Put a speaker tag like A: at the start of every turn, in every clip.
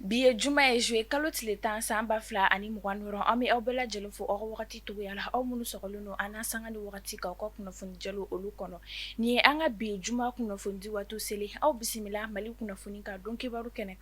A: bi ye juma ye zuye kalo tile tan san ba fila ani mugan wɔɔrɔ an bɛ aw bɛɛ lajɛlen fo aw ka wagati togoya la aw minnu sɔgɔlen don an sanga ni wagati ka aw ka kunnafoni jalo olu kɔnɔ nin ye an ka bi juma kunnafoni di waati selen aw bisimila mali kunnafoni ka don kibaru kɛnɛ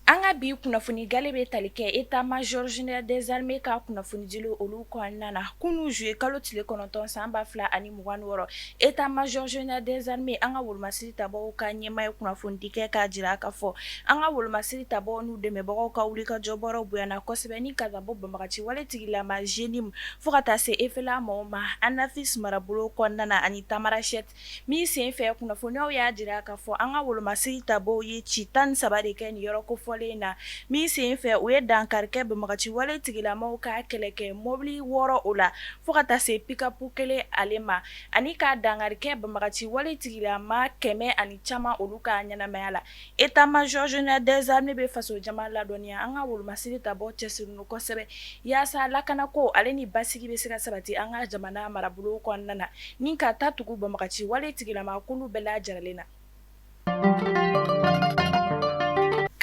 A: An ka bi kunnafoni gale bɛ tali kɛ état-major général des armées ka kunnafoni dilenw olu kɔnɔna na kunun zuye kalo tile kɔnɔntɔn san ba fila ani mugan wɔɔrɔ état-major général des armées an ka wolomasiri tabaaw ka ɲɛmaa ye kunnafonidi kɛ k'a jira k'a fɔ an ka wolomasiri tabaaw n'u dɛmɛbagaw ka wulikajɔ bɔrɔ bonyana kosɛbɛ ni ka bɔ banbagaci wale tigilama JNIM fo ka taa se FLA maaw ma Anefis marabolo kɔnɔna na ani Tamarasɛ min sen fɛ kunnafoniw y'a jira k'a fɔ an ka wolomasiri tabaaw ye ci tan ni saba de kɛ nin yɔrɔ kofɔlen in na min sen fɛ u ye dankari kɛ banbagaci wale tigilamaw ka kɛlɛ kɛ mɔbili wɔɔrɔ o la fo ka taa se pick-up kelen ale ma ani ka dankari kɛ banbagaci wale tigilama kɛmɛ ani caman olu ka ɲɛnamaya la état-major général des armées bɛ faso jama ladɔnniya an ka wolomasiri tabaaw cɛsirilen don kosɛbɛ yaasa lakana ko ale ni basigi bɛ se ka sabati an ka jamana marabolo kɔnɔna na ni ka ta tugu banbagaci wale tigilama kulu bɛɛ lajɛrɛlen na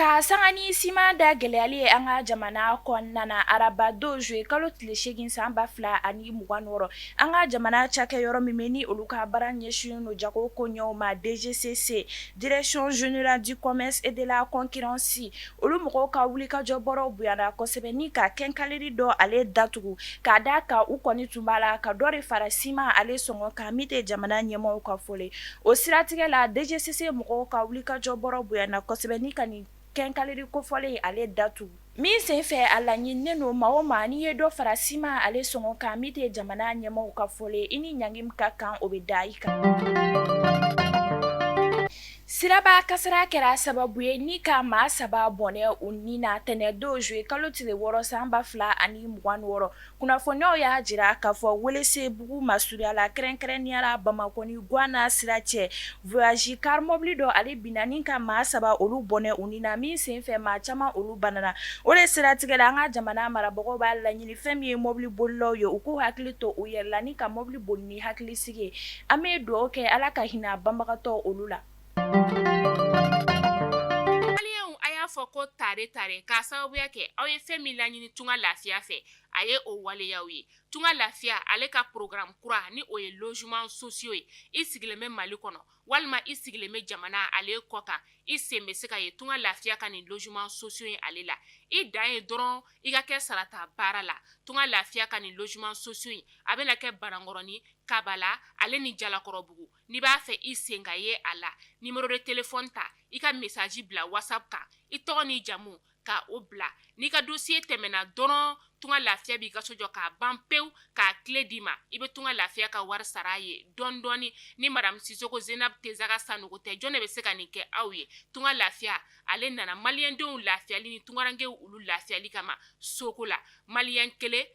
A: Ka sanga ni siman da gɛlɛyali ye an ka jamana kɔnɔna na araba don zuye kalo tile segin san ba fila ani mugan wɔɔrɔ an ka jamana cakɛyɔrɔ min bɛ ni olu ka baara ɲɛsinnen don jagokoɲɛw ma DGCC direction générale du commerce et de la concurrence olu mɔgɔw ka wulikajɔ bɔrɔ bonyana kosɛbɛ ni ka quincaillerie dɔ ale datugu k'a da a kan u kɔni tun b'a la ka dɔ de fara siman ale sɔngɔ kan min tɛ jamana ɲɛmaaw ka fɔlen O siratigɛ la DGCC mɔgɔw ka wulikajɔ bɔrɔ bonyana kosɛbɛ ni ka nin quincaillerie kofɔlen in ale datugu min sen fɛ a laɲininen don maa o maa n'i ye dɔ fara ciment ale sɔngɔ kan min tɛ jamana ɲɛmaaw ka fɔlen ye i ni ɲangi min ka kan o bɛ da i kan. Siraba kasara kɛra sababu ye ni ka maa saba bɔnɛ u ni na tɛnɛndon juillet kalo tile wɔɔrɔ san 2026 kunnafoniw y'a jira k'a fɔ welesebugu masurunya la kɛrɛnkɛrɛnnenya la bamakɔ ni gwana sira cɛ voyage car mɔbili dɔ ale binna ni ka maa saba olu bɔnɛ u ni na min senfɛ maa caman olu banana o de siratigɛ la an ka jamana marabagaw b'a laɲini fɛn min ye mɔbili bolilaw ye u k'u hakili to u yɛrɛ la ni ka mɔbili boli ni hakilisigi ye an bɛ dugawu kɛ ala ka hinɛ banbagatɔ olu la
B: A y'a fɔ ko tare tare k'a sababuya kɛ aw ye fɛn min laɲini tunga lafiya fɛ a ye o waleya aw ye tunga lafiya ale ka programme kura ni o ye logement sociaux ye i sigilen bɛ mali kɔnɔ walima i sigilen bɛ jamana ale kɔ kan i sen bɛ se ka ye tunga lafiya ka nin logement sociaux ye ale la i dan ye dɔrɔn i ka kɛ sarata baara la tunga lafiya ka nin logement sociaux in a bɛna kɛ banankɔrɔni kabala ale ni jalakɔrɔbugu n'i b'a fɛ i sen ka ye a la numéro de téléphone ta i ka message bila whatsapp kan i tɔgɔ ni jamu ka o bila n'i ka dossier tɛmɛna dɔrɔn tunga lafiya b'i ka so jɔ k'a ban pewu k'a clé d'i ma i bɛ tunga lafiya ka wari sara ye dɔɔnin dɔɔnin ni madamu sisoko zenabu tesaga sanɔgɔ tɛ jɔn de bɛ se ka nin kɛ aw ye tunga lafiya ale nana maliyɛndenw lafiyali ni tungarankɛw olu lafiyali kama soko la mali kelen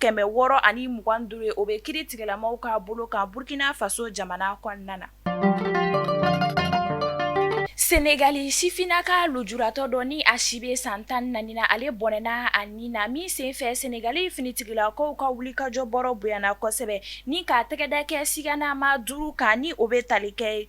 A: kɛmɛ wɔɔrɔ ani mugan duuru ye o bɛ kiri tigɛlamaw ka bolo kan burukina faso jamana kɔnɔna na senegali sifinnaka lujuratɔ dɔ ni a si bɛ san tan ni naani na ale bɔnɛna a ni na min senfɛ senegali finitigilakaw ka wulikajɔ bɔrɔ bonyana kosɛbɛ ni k'a tɛgɛda kɛ siganama duuru kan ni o bɛ tali kɛ ye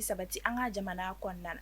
A: sabati an ka jamana kɔnɔna na